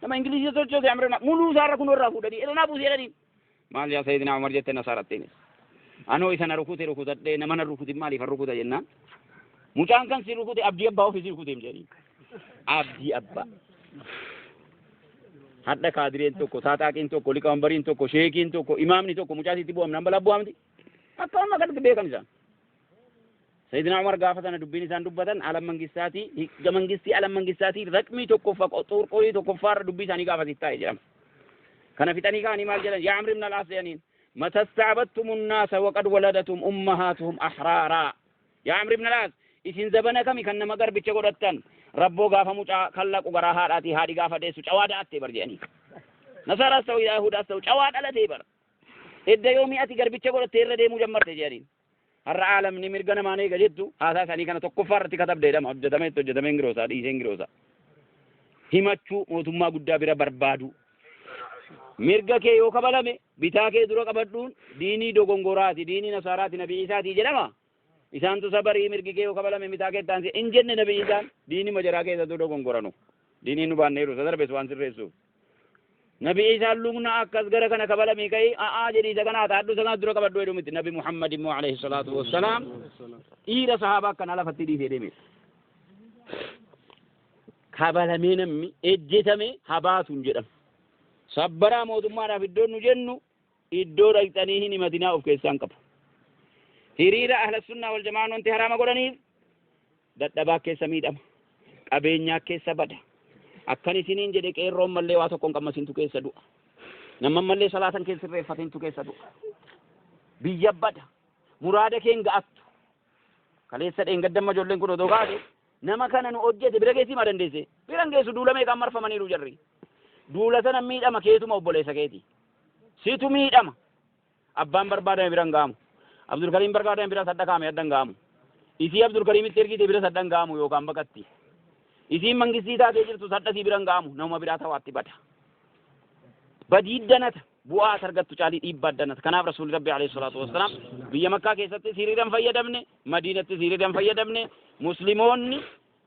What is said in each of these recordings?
nama ingilizii tolchoo fi amrana muluu isaarra kunoo irraa fuudhanii edanaa buusee jedhaniin maal yaa sayidinaa umar jette nasaarattiinis anoo isa na rukute rukutadhee nama na rukute maaliif an rukuta jennaan mucaan kan si rukute abdii abbaa ofii si rukute hin jedhanii abdii abbaa hadha kaadireen tokko taaxaaqiin tokko liqaambariin tokko sheekiin tokko imaamni tokko mucaa sitti bu'amnaan balaa bu'amti akka amma kanatti beekan isaan Sayyidina Umar gaafa sana dubbiin isaan dubbatan alam mangistaati higa mangistii alam mangistaati raqmii tokkoffaa qoxxurqorii tokkoffaa irra dubbii isaanii gaafa sittaa'e jedhama. Kana fixanii ka'anii maal jedhan yaa amri ibn al-aas jedhaniin matasta'abattum unnaasa waqad waladatum ummahaatuhum ahraaraa yaa amri ibn al-aas isin zabana kami kan nama garbicha godhattan rabboo gaafa mucaa kallaqu garaa haadhaatii haadhi gaafa deessu cawaa da'attee bar jedhanii. Nasaaraas ta'u yaahudaas ta'u cawaa dhalatee bar. Edda yoomii ati garbicha godhattee irra deemuu jammarte jedhaniin. Har'a aalamni mirga namaan eega jettu haasaa isaanii kana tokkoffaa irratti katabda jedhama hojjetamee itti hojjetamee hin giroosaa dhiisee hin giroosaa. Himachuu mootummaa guddaa bira barbaaduu. Mirga kee yoo kabalame bitaa kee dura qabadhuun diinii dogongoraati diinii nasaaraati nabi isaati jedhama. Isaantu sabarii mirgi kee yoo kabalame bitaa kee taansi hin jenne nabi isaan diinii majaraa keessattuu dogongoranu. Diinii nu baanneeru isa darbes waan sirreessuuf. Nabi Iisaan lugna akkas gara kana kabalamii ka'ii a'aa jedhii isa kana haxaadhu isa kana dura qabadhu jedhu miti. Nabi Muhammad immoo alayhi salaatu wassalaam dhiira sahaaba akkanaa lafatti dhiisee deeme. Kabalamee namni ejjetame habaatu hin jedhamu. Sabbaraa mootummaadhaaf iddoon nu jennu iddoo dhaqxanii hin himatinaa of keessaan qabu. Hiriira ahla sunnaa wal jamaa wanti haraama godhaniif dadhabaa keessa miidhama, qabeenyaa keessa bada. Akkan isiniin jedhe qeerroon mallee waa tokkon qammasintu keessa du'a. Namman mallee salaatan kee sirreeffatintu keessa du'a. Biyya bada. Muraada keen ga'attu. Kaleessa dheengaddamma ijoolleen kun odoo kaate nama kana nu hojjete bira geessii maa dandeesse? Bira hin geessu duula meeqaan marfamaniiru jarri. Duula sana miidhama keetuma obboleessa keeti. Situ miidhama. Abbaan barbaadame bira hin ga'amu. Abdulkariim barbaadame biras hadha kaame hadha hin ga'amu. Isii Abdulkariimitti ergite biras hadha hin ga'amu yookaan baqatti. Isiin mangistii taatee jirtus hadha isii bira hin ga'amu. Nama biraa tawaatti bada. Badii danata. Bu'aa as argattu caalii dhiibbaa danata. Kanaaf Rasuulli Rabbi alayhi salaatu wassalaam biyya Makkaa keessatti hiriira hin fayyadamne, Madiinatti hiriira hin fayyadamne, Muslimoonni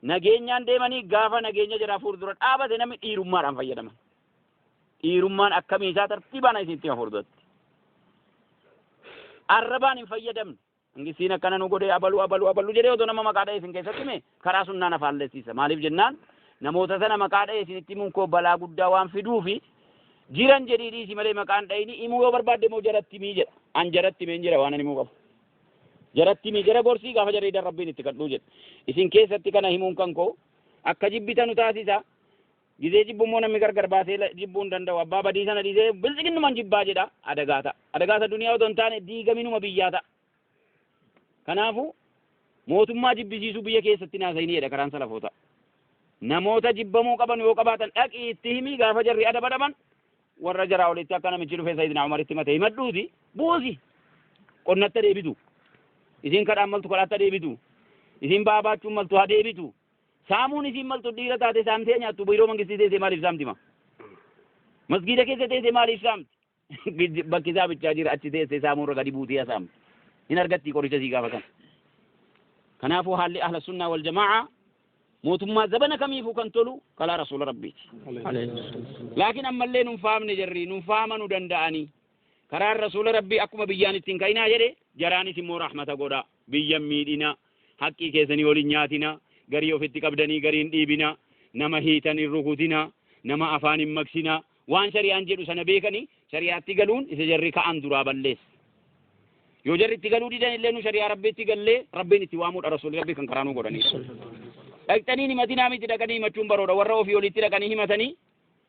nageenyaan deemanii gaafa nageenya jedhaa fuuldura dhaabate namni dhiirummaadhaan fayyadaman. Dhiirummaan akkamii isaa tartiibaan isinitti hima furdatti. Arrabaan hin fayyadamne. Hangissiin akkana nu godhee abaluu abaluu abaluu jedhee otoo nama maqaa dha'ee isin keessatti hime karaa sunnaa na faallessiisa. Maaliif jennaan namoota sana maqaa dha'ee isinitti himuun koo balaa guddaa waan fiduufi jiran jedhii dhiisi malee maqaan dha'ini himuu yoo barbaadde immoo jaratti mii jedha. An jaratti meen jira waan ani himuu qabu. Jaratti mii jara gorsii gaafa jarri idan rabbiin itti kadhuu jedha. Isin keessatti kana himuun kan koo akka jibbitanu taasisa. Gizee jibbu immoo namni gargar baasee la- jibbuu hin danda'u. Abbaa badii sana dhiisee bilxiginnuman jibbaa jedha. Adagaa ta'a. Adagaa isa duniyaa otoo hin taane diigaminuma biyyaa ta'a. Kanaafuu mootummaa jibbisiisuu biyya keessatti naasayinii jedha karaan salafootaa. Namoota jibbamuu qaban yoo qabaatan dhaqii itti himii gaafa jarri adaba dhaban warra jaraa olitti akka namichi dhufee Sayyidina Umaritti mate himadhuuti buusi qonnatta deebitu. Isin kadhaan maltu kadhaatta deebitu. Isin ba'aa baachuun maltu haa deebitu. Saamuun isiin maltu dhiira taate saamtee nyaattu biiroo mangistii teessee maaliif saamti ma? Masgiida keessa teessee maaliif saamti? Gijji- Bakki isaa bichaa jira achi teessee saamuu irra gadi buutee haa saamtu. Hin argattii qoricha sii gaafatan. Kanaafuu haalli ahla sunnaa wal jamaa'a mootummaa zabana kamiifuu kan tolu kalaa rasuula rabbiiti. Laakiin ammallee nun faamne jarri nun faama nu danda'anii. Karaan rasuula rabbii akkuma biyyaan ittiin ka'inaa jedhe jaraanis immoo rahmata godhaa. Biyya hin miidhinaa. Haqqii keessanii wal hin nyaatinaa. Garii ofitti qabdanii garii hin dhiibinaa. Nama hiitan hin rukutinaa. Nama afaan hin maqsinaa. Waan shari'aan jedhu sana beekanii shari'aatti galuun isa jarri ka'an duraa balleessa. Yoo jarri itti galuu didan illee nu shari'aa Rabbiitti gallee Rabbiin itti waamuudha Rasuulli Rabbii kan karaa nu godhaniiru. Dhaqxanii hin himatinaa miti dhaqanii himachuun baroodha. Warra ofii olitti dhaqanii himatanii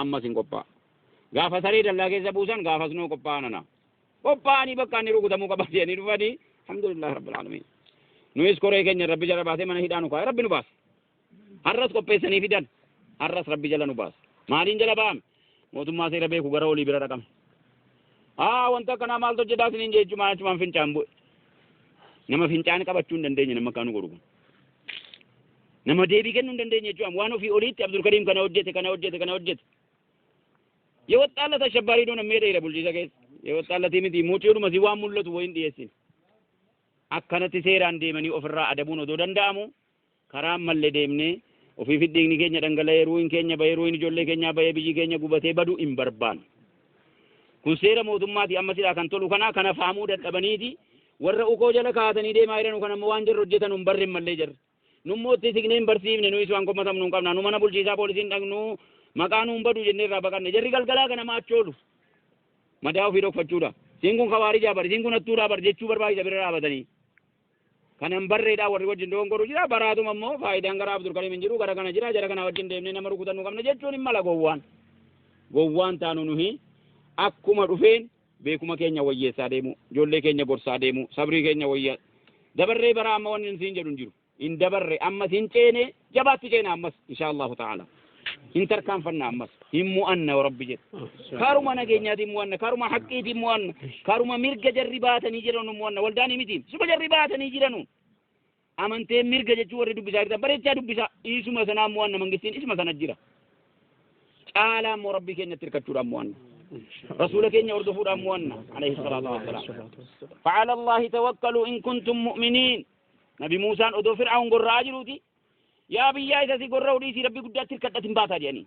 Ammas hin qophaa'a. Gaafa saree dallaa keessa buusan gaafas noo qophaa'an ana. Qophaa'anii bakka inni rukutamuu qaba jedhanii dhufanii alhamdulillah rabbil aalamiin. Nuyis koree keenya rabbi jala baasee mana hidhaa nu kaa'e rabbi nu baase. Har'as qopheessanii fidan. Har'as rabbi jala nu baase. Maaliin jala ba'ame? Mootummaa seera beeku gara olii bira dhaqame. Aa wanta akkanaa maaltu hojjetaa isiniin jechuun achumaan fincaan bu'e. Nama fincaan qabachuu hin dandeenye nama akkaan nu godhu kun. Nama deebii kennuu hin dandeenye jechuudha. Waan ofii oliitti Abdulkariim kana hojjete, kana hojjete, kana hojjete. Yoo waxxaalla isa shabbaariin doon ammee dheera bulchiisa keessa. Yoo waxxaallatii miti muuciidhuma si waan mul'atu wayiin dhiyeessin. Akkanatti seeraan deemanii ofirraa adabuun odoo danda'amu karaan malle deemnee ofii fi dhiigni keenya dhangala'ee ruuhin keenya bahee ruuhin ijoollee keenyaa bahee biyyi keenya gubatee badu hin barbaannu. Kun seera mootummaati amma silaa kan tolu kanaa kana faamuu dadhabaniiti Warra ukoo jala kaa'atanii deemaa jiranu kana immoo waan jarri hojjetanu hin barre hin mallee jarri. Nu immoo itti siqnee hin barsiifne nuyis waan komatamnu hin qabna. Nu mana bulchiisaa poolisiin dhaqnu maqaa nuun badu jennee irraa baqanne. Jarri galgalaa kana ma achi oolu. Madaa ofii dhokfachuudha. Siin kun kawaarijaa bari siin kun hattuudhaa bari jechuu barbaachisa bira dhaabatanii. Kana hin barreedhaa warri wajjin dogongoru jira baraatuma immoo faayidaan gara Abdul Karim hin jiru gara kana jira jara kana wajjin deemnee nama rukutan nu qabna jechuun hin mala gowwaan. Gowwaan taanu nuhi akkuma dhufeen beekuma keenya wayyeessaa deemuu, ijoollee keenya gorsaa deemuu, sabrii keenya wayya dabarree bara amma wanni siin jedhu hin jiru. Hin dabarre ammas hin ceene jabaatti ceena ammas inshaa Allahu ta'ala. Hin tarkaanfanna ammas hin mo'anna yoo rabbi jedhe. Karuma nageenyaatiin mo'anna, karuma haqqiitiin mo'anna, karuma mirga jarri baatanii jiranu mo'anna. Waldaanii miti suma jarri baatanii jiranu. Amantee mirga jechuu warri dubbisaa jirtan bareechaa dubbisaa isuma sanaa mo'anna mangistiin isuma sana jira. Caalaa immoo rabbii keenyatti hirkachuudhaan mo'anna. Rasuula keenya hordofuudhaan mo'anna. Alayhi salaatu wassalaam. Fa'ala Allahi tawakkaluu in kuntum mu'miniin. Nabi Muusaan odoo Fir'aawun gorra'aa jiruuti. Yaa biyyaa isa si gorra'u dhiisii rabbii guddaatti hirkadhatin baataa jedhanii.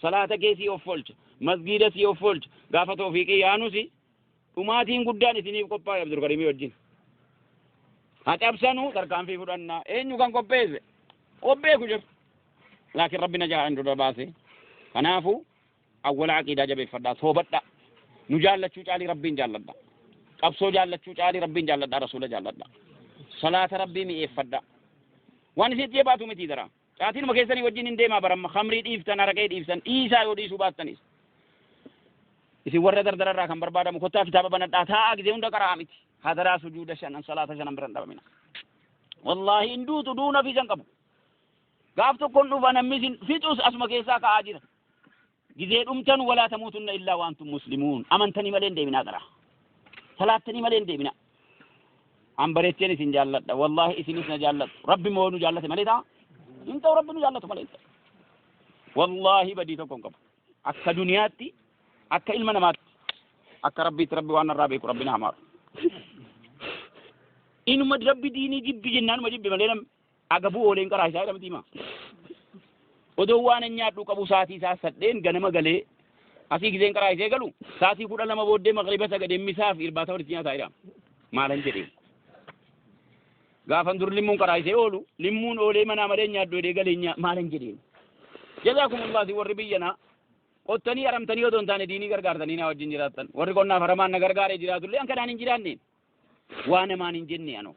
Salaata kee sii offolcha. Masgiida sii offolcha. Gaafa toofiiqii yaanusi dhumaatiin guddaan isiniif qophaa'e Abdulkarimii wajjin. Ha cabsanu tarkaanfii fudhanna. Eenyu kan qopheesse? Of beeku jira. Laakiin Rabbi najaa hin dura baase. Kanaafu awwala aqiidaa jabeeffadhaa soobadhaa. Nu jaallachuu caalii Rabbiin jaalladha. Qabsoo jaallachuu caalii Rabbiin jaalladha Rasuula jaalladha. Salaata Rabbii mi'eeffadhaa. Waan isiitti jabaatu miti daraa. Caatiinuma keessanii wajjin hin deemaa bar amma khamrii dhiiftan araqee dhiiftan dhiisaa yoo dhiisuu baattanis. Isin warra dardara irraa kan barbaadamu kottaa kitaaba banadhaa taa'aa gisee hunda qara'aa miti. Hadaraa sujuuda shanan salaata shanan biran dhabamina. Wallaahi hin duutu duuna fi san qabu. Gaaf tokkon dhufa namni isin fixus asuma keessaa ka'aa jira. Gizee dhumtanu walaa tamuutunna illaa waantum muslimuun. Amantanii malee hin deeminaa gara. Salaattanii malee hin deeminaa. An bareecheen isin jaalladha. Wallaahi isinis na jaallattu. Rabbi moo nu jaallate malee ta'a? Hin ta'u rabbi nu jaallatu malee hin ta'u. Wallaahi badii tokko hin qabu. Akka duniyaatti, akka ilma namaatti, akka rabbiitti rabbi waan narraa beeku rabbi na hamaaru. Inuma rabbi diinii jibbi jennaanuma jibbi malee namni. Aga bu'ooleen qaraa isaa jedha mitiima. Odoo waan hin nyaadhuu qabu saatii isaa sadheen ganama galee asii gizeen qaraa isee galu saatii kudha lama booddee maqriba sagadee misaaf irbaata walitti nyaataa jedha. Maalan jedhee. Gaafan dur limmuun qaraa isee oolu limmuun oolee manaa malee nyaadhu jedhee galee nyaa maalan jedhee. Jazaa kumulbaasi warri biyyanaa qottanii haramtanii odoo hin taane diinii gargaartanii naa wajjin jiraattan warri qonnaaf haramaan na gargaaree jiraatullee an kanaan hin jiraanneen. Waa namaan hin jenne anoo.